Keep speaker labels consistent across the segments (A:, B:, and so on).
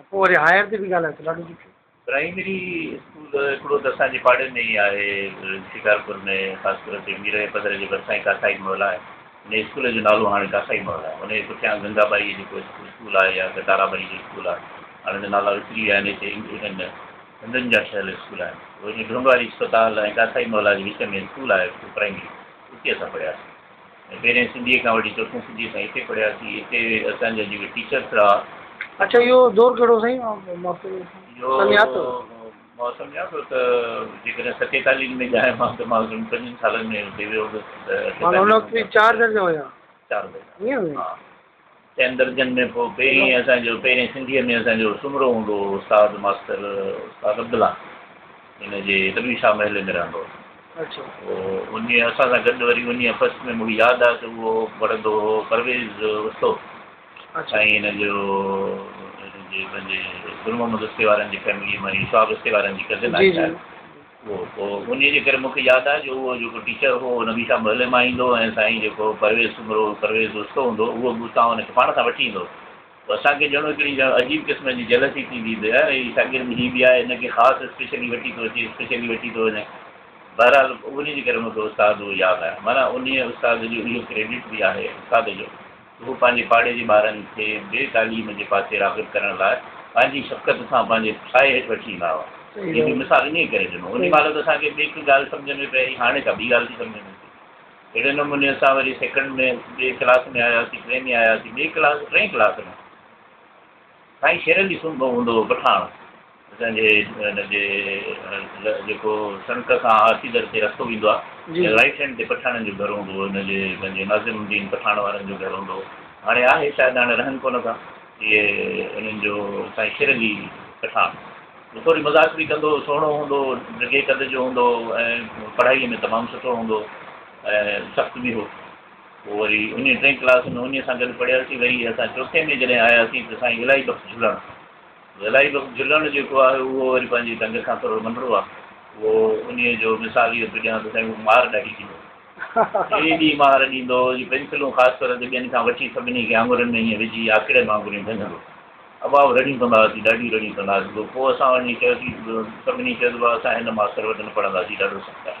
A: ۽ پوء وري هائير تي به ڳالهايو ته ڏاڍو ڏکيو. پرائمري
B: اسڪول هڪڙو ته اسان جي پاڙي ۾ ئي آهي شڪارپور ۾ خاص طور تي ميرئي پڌر جي ڀرسان ئي ڪاٿائي محل آهي انهي اسڪول جو نالو هاڻي ڪاٿائي محل آهي انهي جي پٺيان گنگا ٻائي جيڪو اسڪول آهي يا ته تارا ٻائي جو اسڪول آهي هاڻي ته نالا وسري ويا آهن هتي انهن هندن جا ٺهيل اسڪول آهن پوء انهي ڍونڍواري اسپتال ۽ ڪاٿائي محل جي وچ ۾ اسڪول آهي پرائمري اتي اسان پڙهياسين. پهرين سنڌيء کان وٺي چوٿون سنڌيء تائين هتي پڙهياسين. هتي اسان جا جيڪي ٽيچرس رها. اڇا اهو
A: دور ڪهڙو سائين
B: سميات هو. اهو سميات هو ته جيڪڏهن ستين تالين ۾ ڄايان مان ته مان سمجهان پنجن سالن ۾ هتي ويو هوندس ته. مان ان وقت چار درجا هيا. چار درجا ائين
A: هو.
B: چئن درجن ۾ پوء پهرين اسان جو پهرين سنڌيء ۾ اسان جو سومرو هوندو هو استاد ماستر استاد عبدالله هن جي دٻي شاهه محلي ۾ رهندو هو اچو
A: پوء انهيء
B: اسان سان گڏ وري انهيء فصل ۾ مون کي ياد آهي ته اهو پڙهندو هو پرويز استو اچو ۽ هن جو هن جي پنهنجي گل محمد استي وارن جي فيمليء مان هي سهاب استي وارن جي ڪزن آهي جي جي شايد انهيء جي ڪري مون کي ياد آهي جو اهو جيڪو ٽيچر هو اهو هميشه محلي مان ايندو هو ۽ سائين جيڪو پرويز سومرو، پرويز استو هوندو هو، اهو به اتان هن کي پاڻ سان وٺي ايندو هو. اسان کي ڄڻو هڪڙي ڄڻ عجيب قسم جي جيلسي ٿيندي ته يار هي شاگرد هي به آهي هن کي خاص اسپيشلي وٺي ٿو اچي اسپيشلي وٺي ٿو وڃي. بهرحال انهيء جي ڪري مون کي استاد اهو ياد آهي. معنيٰ انهيء استاد جو اهو ڪريڊٽ به آهي استاد جو. هو پنهنجي پاڙي جي ٻارن کي بي تعليم جي پاسي راغب ڪرڻ لاء پنهنجي شفقت سان پنهنجي سايي هيٺ وٺي ايندا هئا. جنهن جو مثال انهيء ڪري ڏنو. انهيء مهل ته اسان کي ٻيڪ ڳالهه سمجهه ۾ پئي آئي، هاڻي ڪا ٻي ڳالهه ٿي سمجهه ۾ اچي. اهڙي نموني اسان وري سيڪنڊ ۾ ٻئي ڪلاس ۾ آياسين، ٽئين ۾ آياسين، ٻئي ڪلاس، ٽئين ڪلاس ۾. سائين شيرن جي سنڌ ۾ هوندو هو پٺاڻ اسان جي هن جي جيڪو سنڪ کان هاٿي در تي رستو ويندو آهي جي رائيٽ هينڊ تي پٺاڻن جو گهر هوندو هو هن جي پنهنجي ناظم الدين پٺاڻ وارن جو گهر هوندو هو هاڻي آهي شايد هاڻي رهن ڪونه ٿا اهي انهن جو سائين شيرن جي پٺاڻ هو ٿوري مذاق به ڪندو هو سهڻو هوندو هو ڊگهي قد جو هوندو هو ۽ پڙهائي ۾ تمام سٺو هوندو هو ۽ سخت به هو پوء وري انهيء ٽئين ڪلاس ۾ انهيء سان گڏ پڙهياسين. وري اسان چوٿين ۾ جڏهن آياسين ته سائين الائي بخش جهلڻ، الائي بخش جهلڻ جيڪو آهي اهو وري پنهنجي ڍنگ کان ٿورو ننڍڙو آهي. اهو انهيء جو مثال اهو ٿو ڏيان ته سائين مونکي مهار ڏاڍي ڏيندو هو. ايڏي مهار ڏيندو هو جو پينسلون خاص طور تي ٻين کان وٺي سڀني کي آڱرين ۾ ائين وجهي آکيڙين وانگر ائين ڀڃندو هو. ابا رڙيون ڪندا هئاسين، ڏاڍيون رڙيون ڪندا هئاسين. پوء اسان وڃي چيوسين، سڀني چيو ته بابا اسان هن ماستر وٽ نه پڙهنداسين، ڏاڍو سخت آهي.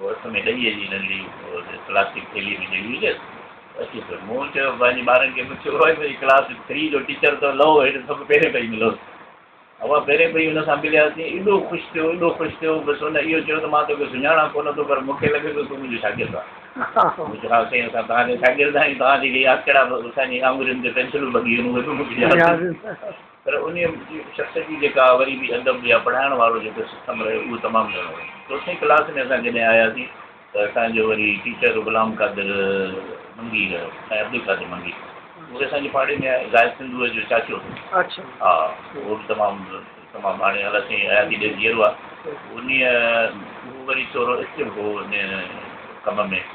B: هو هٿ ۾ ڏهيء جي ننڍي پلاسٽڪ ٿيلهي ۾ جهڙي هجس، اچي پيو. مون چيو، پنهنجي ٻارن کي پڇيو هئائي ڀئي ڪلاس ٿري جو ٽيچر ته لئو هيڊ سڀ پهرين پئي ملوس. اوهان پهرين پئي ان سان ملياسين. ايڏو خوش ٿيو، ايڏو خوش ٿيو، بس ان اهو چيو ته مان توکي سڃاڻان ڪونه ٿو پر مون کي لڳي ٿو تون منهنجو شاگرد آهين. مون چيو، ها سائين اسان توهان جا شاگرد آهيون، توهان جي اهي آکيڙا به اسان جي آڱرين تي پينسلون ٻڌي ويون اهي به مون کي ياد آهن. پر انهيء شخص جي جيڪا وري به ادب يا پڙهائڻ وارو جيڪو سسٽم رهيو اهو تمام گهڻو هو. چوٿين ڪلاس ۾ اسان جڏهن آياسين ته اسان جو وري ٽيچر غلام قادر منگي رهيو سائين عبدالقادر منگي اهو اسان جي پاڙي ۾ آهي زاهد سنڌوء جو چاچو هو ها اهو به تمام تمام هاڻي الله سائين حياتي ڏئي جيئرو آهي انهيء اهو وري ٿورو ايڪٽو هو انهيء ڪم ۾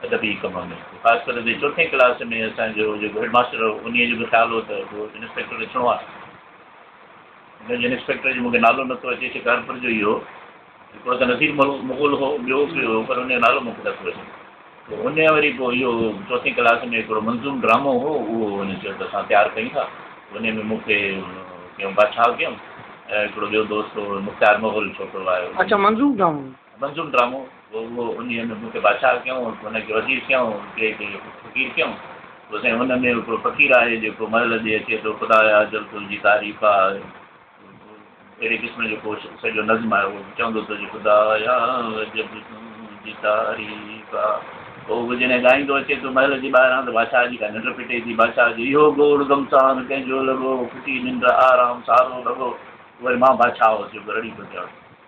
B: ادبي ڪم ۾ خاص ڪري جي چوٿين ڪلاس ۾ اسان جو جيڪو هيڊ ماستر هو انهيء جو به خيال هو ته اهو انسپيڪٽر اچڻو آهي. هن جي انسپيڪٽر جو مون کي نالو نٿو اچي شڪارپور جو ئي هو. هڪڙو ته نصير مغل هو ٻيو به هو پر انهيء جو نالو مون کي نٿو اچي. پوء انهيء وري پوء اهو چوٿين ڪلاس ۾ هڪڙو منظوم ڊرامو هو اهو هن چيو ته اسان تيار ڪيون ٿا. انهيء ۾ مون کي ڪيون بادشاهه ڪيون ۽ هڪڙو ٻيو دوست هو مختيار مغل ڇوڪرو آيو. اچا منظوم ڊرامو. منظوم ڊرامو هو اهو انهيء ۾ مون کي بادشاهه ڪيائون ۽ هن کي وزير ڪيائون ۽ ٽئين کي فقير ڪيائون پوء سائين ان ۾ هڪڙو فقير آهي جيڪو مهل ڏي اچي ٿو خدايا اجل تنهنجي تعريف آ اهڙي قسم جو ڪو سڄو نظم آهي اهو چوندو ٿو جي خدايا اجل تنهنجي تعريف آ پوء اهو جڏهن ڳائيندو اچي ٿو مهل جي ٻاهران ته بادشاهه جي ڪا ننڊ ڦٽي ٿي بادشاهه جو اهو گوڙ گمسان ڪنهن جو لڳو ڦٽي ننڊ آرام سارو ڀڳو پوء وري مان بادشاهه هوس جيڪو رڙي ٿو ڪيان.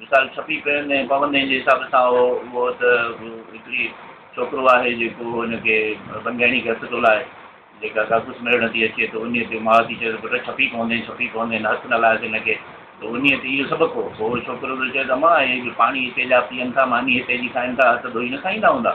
B: مثال ڇپي پيل ۽ پابندين جي حساب سان هو اهو ته هڪڙي ڇوڪرو آهي جيڪو هن کي بنگهيڻي کي هٿ ٿو لائي جيڪا ڪاڪوس ميڙڻ ٿي اچي ته انهي تي ماء ٿي چوي ته پٽ ڇپي پوندين ڇپي پوندين هٿ نه لائس هن کي ته انهي تي اهو سبق هو پوء اهو ڇوڪرو ٿو چوي ته امان هي جو پاڻي هتي جا پيئن ٿا ماني هتي جي کائن ٿا هٿ ڌوئي نه کائيندا هوندا.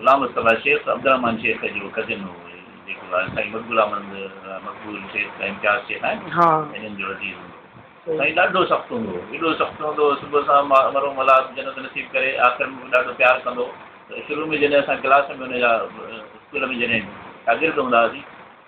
B: غلام رسول الله شيخ عبدالرحمان شيخ جو ڪزن هو هي جيڪو آهي سائين مقبول احمد مقبول شيخ جا امتياز شيخ آهن هنن جو عزيز هوندو هو سائين ڏاڍو سخت هوندو هو ايڏو سخت هوندو هو صبح سان مرحوم الله جنت نصيب ڪري آخر ۾ به ڏاڍو پيار ڪندو هو ته شروع ۾ جڏهن اسان ڪلاس ۾ هن جا اسڪول ۾ جڏهن شاگرد هوندا هئاسين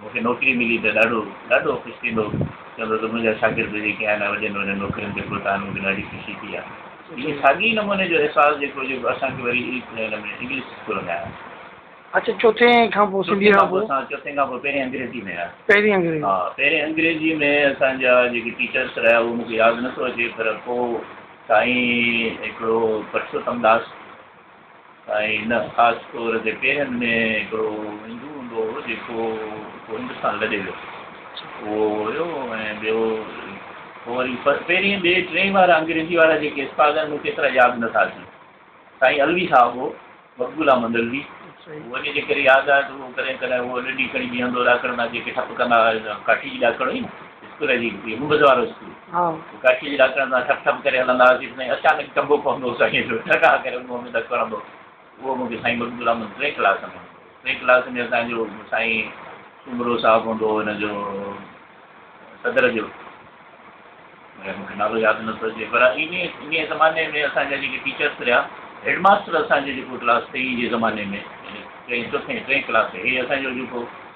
B: مون کي نوڪري ملي ته ڏاڍو ڏاڍو خوش ٿيندو چوندو ته منهنجا شاگرد جيڪي آهن وڏين وڏين نوڪرين تي پهتا آهن مون کي ڏاڍي خوشي ٿي آهي اهو ساڳي نموني جو احساس جيڪو جيڪو اسان کي وري انگلش اسڪول ۾ آهي. اچا چوٿين
A: کان پوء سنڌي کان پوء اسان چوٿين کان پوء پهرين انگريزي ۾ آهي پهرين انگريزي
B: ها پهرين
A: انگريزي ۾
B: اسان جا جيڪي ٽيچرس رهيا اهو مون کي ياد نٿو اچي پر پوء سائين هڪڙو پرشوتم داس ۽ ان خاص طور تي پيرن ۾ هڪڙو هندو هوندو هو جيڪو پوء هندستان لڏي ويو اهو هيو ۽ ٻيو پوء وري پهرين ٻئي ٽئين وارا انگريزي وارا جيڪي استاد آهن مون کي ايترا ياد نٿا اچن سائين علوي صاحب هو مقبول احمد علوي اهو اڄ جيڪر ياد آهي ته اهو ڪڏهن ڪڏهن اهو ڏنڊي کڻي بيهندو ڏاڪڻ ڏانهن جيڪي ٽپ ڪندا هئا ڪاٺي جي ڏاڪڻ هئي نه اسڪول هلي ويئي ممبز وارو اسڪول ته ڪاشيء جي ڏاڪڻ تان ٺپ ٺپ ڪري هلندا هئاسين ته سائين اچانڪ ٽنبو پوندو هو سائينء جو ٺڪاء ڪري ان منهن ۾ ڌڪ هڻندو هو اهو مون کي سائين مقبول احمد ٽئين ڪلاس ۾ ٽئين ڪلاس ۾ اسان جو سائين سومرو صاحب هوندو هو هن جو صدر جو مون کي نالو ياد نٿو اچي پر ان ان زماني ۾ اسان جا جيڪي ٽيچرس رهيا هيڊ ماستر اسان جي جيڪو ڪلاس ٽئين جي زماني ۾ ٽئين چوٿين ٽئين ڪلاس هي اسان جو جيڪو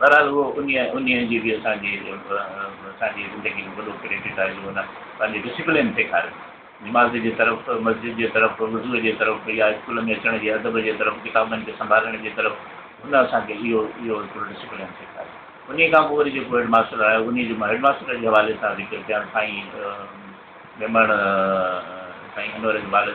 B: بهرحال اهو انهيء انهيء جي به اسان جي اسان جي زندگي ۾ وڏو ڪريڊٽ آهي جو هن پنهنجي ڊسپلين سيکاري. نماز جي طرف، مسجد جي طرف، وضوء جي طرف يا اسڪول ۾ اچڻ جي ادب جي طرف، ڪتابن کي سنڀالڻ جي طرف هن اسان کي اهو اهو هڪڙو ڊسپلين سيکاري. انهيء کان پوء وري جيڪو هيڊ ماستر آيو انهيء جو مان هيڊ ماستر جي حوالي سان ذڪر ڪيان ته سائين ميمڻ سائين انور اقبال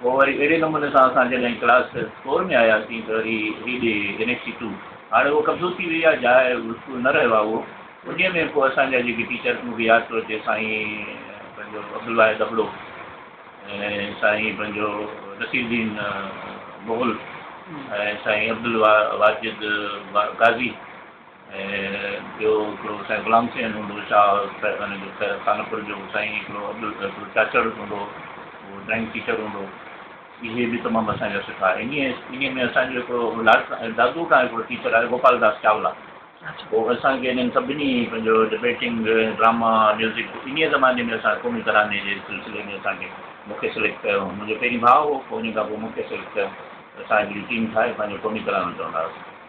B: پوء وري اهڙي نموني سان اسان جڏهن ڪلاس فور ۾ آياسين ته وري هي ڏي اين اي سي ٽو هاڻي اهو قبضو ٿي وئي آهي جاء اسڪول نه رهيو آهي اهو انهيء ۾ پوء اسان جا جيڪي ٽيچر مون کي ياد ٿو اچي سائين پنهنجو عبدالواحد ابڙو ۽ سائين پنهنجو نصير الدين مغل ۽ سائين عبدالواجد قاضي ٻيو هڪڙو سائين غلام حسين هوندو هو شاهه پيرزادن جو خانپور جو سائين هڪڙو عبدالقادر چاچڙ هوندو هو اهو ڊرائنگ ٽيچر هوندو هو اهي به تمام اسان جا سٺا انهي انهي ۾ اسان جو هڪڙو اولاد دادو کان هڪڙو ٽيچر آهي گوپال داس چاولا هو اسان کي انهن سڀني پنهنجو ڊبيٽنگ ڊراما ميوزڪ انهي زماني ۾ اسان قومي تراني جي سلسلي ۾ اسان کي مونکي سليڪٽ ڪيو هو منهنجو پهرين ڀاء هو پوء انهي کان پوء مونکي سليڪٽ ڪيو اسان هڪڙي ٽيم ٺاهي پنهنجو قومي ترانو چوندا هئاسين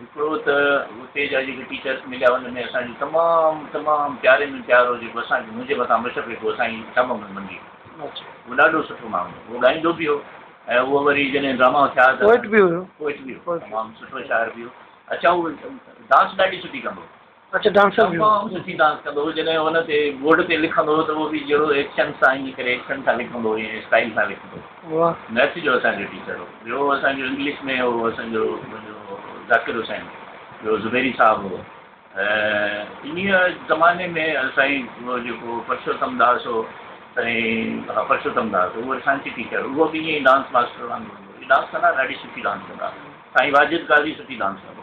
B: هڪڙو ته اتي جا جيڪي ٽيچرس مليا ان ۾ اسان جي تمام تمام پياري ۾ پيارو جيڪو اسان کي منهنجي مٿان مشفق هو اسان جي شاهه محمد منڊي اهو ڏاڍو سٺو ماڻهو هو اهو ڳائيندو به هو ۽ اهو وري جڏهن ڊراما ٿيا ته پوئٽ به هو تمام سٺو شاعر به هو اڇا هو ڊانس ڏاڍي سٺي ڪندو هو تمام
A: سٺي ڊانس ڪندو هو
B: جڏهن هن تي بورڊ تي لکندو هو ته اهو به جهڙو ايڪشن سان ائين ڪري ايڪشن سان لکندو هو ائين اسٽائيل سان لکندو هو ميٿ جو اسان جو ٽيچر هو ٻيو اسان جو انگلش ۾ هو اسان جو ذاڪر حسين ٻيو زبيري صاحب هو انهيء زماني ۾ سائين اهو جيڪو پرشوتم داس هو سائين ها پرشوتم داس اهو اسان جي ٽيچر اهو به ائين ڊانس ماستر وانگر هو ڊانس ڪندا ڏاڍي سٺي ڊانس ڪندا سائين واجد قاضي سٺي ڊانس ڪندو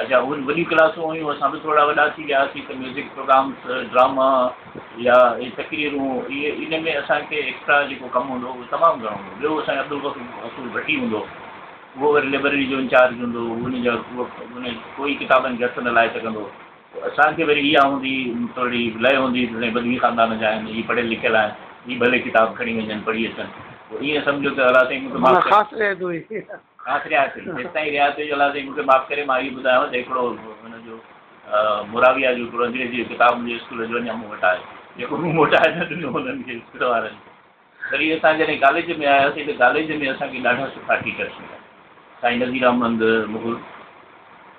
B: اچا اهي به وڏيون ڪلاسون هيون، اسان به ٿورڙا وڏا ٿي ويا هئاسين ته ميوزڪ پروگرامس، ڊراما يا اهي تقريرون اهي ان ۾ اسان کي ايڪسٽرا جيڪو ڪم هوندو هو اهو تمام گهڻو هوندو هو. ٻيو اسان جو عبدالغفور ڀٽي هوندو هو، اهو وري لئبرري جو انچارج هوندو هو، ان جا ان ڪوئي ڪتابن کي هٿ نه لائي سگهندو هو. پوء اسان کي وري اها هوندي هئي ٿورڙي لئه هوندي هئي ته سائين بدوي خاندان جا آهن، هي پڙهيل لکيل آهن، هي ڀلي ڪتاب کڻي وڃن پڙهي اچن، پوء ائين سمجهو ته الاء سائين مون کي معاف ڪري. آخري آخري جيستائين ريا ٿي جو الله سائين مونکي معاف ڪري مان اهي ٻڌايان ته هڪڙو هن جو موراويا جو هڪڙو انگريزي جو ڪتاب منهنجي اسڪول جو اڃا مون وٽ آهي جيڪو مون موٽائي نه ڏنو هنن کي اسڪول وارن وري اسان جڏهن ڪاليج ۾ آياسين ته ڪاليج ۾ اسان کي ڏاڍا سٺا ٽيچرس مليا سائين نذير احمد مغل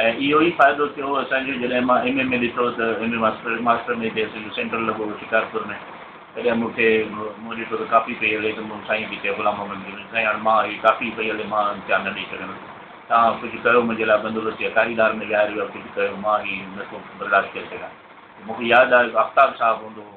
B: ۽ اهو ئي فائدو ٿيو اسان کي جڏهن مان ايم اي ۾ ڏٺو ته ايم اي ماسٽر ماسٽر ۾ به اسان جو سينٽر لڳو هو شڪارپور ۾ تڏهن مون کي مون ڏٺو ته ڪاپي پئي هلي ته مون سائين کي چيو غلام محمد مير ۾ سائين هاڻي مان هي ڪاپي پئي هلي مان امتحان نه ڏئي سگهندس توهان ڪجهه ڪيو منهنجي لاء بندوبست يا ڪاري ڏار ۾ ويهاريو يا ڪجهه ڪيو مان هي نه ٿو برداشت ڪري سگهان ته مون کي ياد آيو ته آفتاب صاحب هوندو هو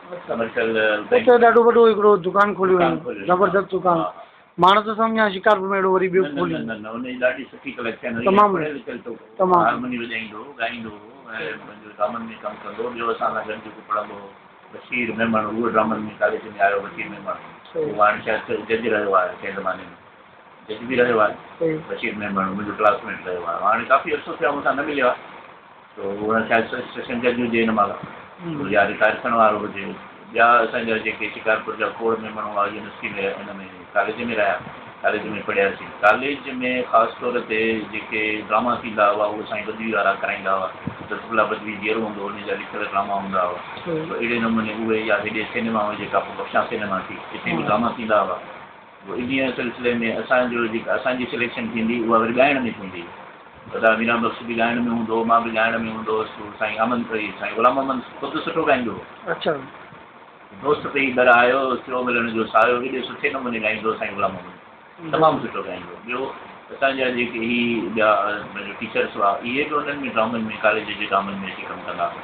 B: اتي ڏاڍو
A: وڏو هڪڙو دڪان کوليو هيائين، زبردست دڪان، ماڻس ته سمجهان شڪارپور ۾ اهڙو وري ٻيو کولي
B: نه. تمام وڏو. سو اها شايد سيشن جج هجي هن مهل يا رٽائر ٿيڻ وارو هجي. ٻيا اسان جا جيڪي شڪارپور جا کوڙ ۾ ماڻهو هئا يونيورسٽي ۾ ان ۾ ڪاليج ۾ رهيا ڪاليج ۾ پڙهياسين. ڪاليج ۾ خاص طور تي جيڪي ڊراما ٿيندا هئا اهي سائين بدوي وارا ڪرائيندا هئا. لطف الله بدوي جيئرو هوندو هو ان جا لکيل ڊراما هوندا هئا. سو اهڙي نموني اهي يا هيڏي سينما هئي جيڪا پوء بخشان سينما ٿي اتي به ڊراما ٿيندا هئا. انهيء سلسلي ۾ اسان جو جيڪا اسان جي سليڪشن ٿيندي اها وري ڳائڻ ۾ ٿيندي. سردار ميران بخش به ڳائڻ ۾ هوندو هو، مان به ڳائڻ ۾ هوندو هوس. سائين احمد سيد، سائين غلام محمد خود سٺو ڳائيندو
A: هو. دوست
B: پئي در آيو، ٿيو ملڻ جو سايو ايڏي سٺي نموني ڳائيندو هو سائين غلام محمد. تمام سٺو ڳائيندو هو. ٻيو اسان جا جيڪي هي ٻيا پنهنجو ٽيچرس هئا، اهي به انهن ۾ ڊرامن ۾ ڪاليج جي ڊرامن ۾ اچي ڪم ڪندا هئا.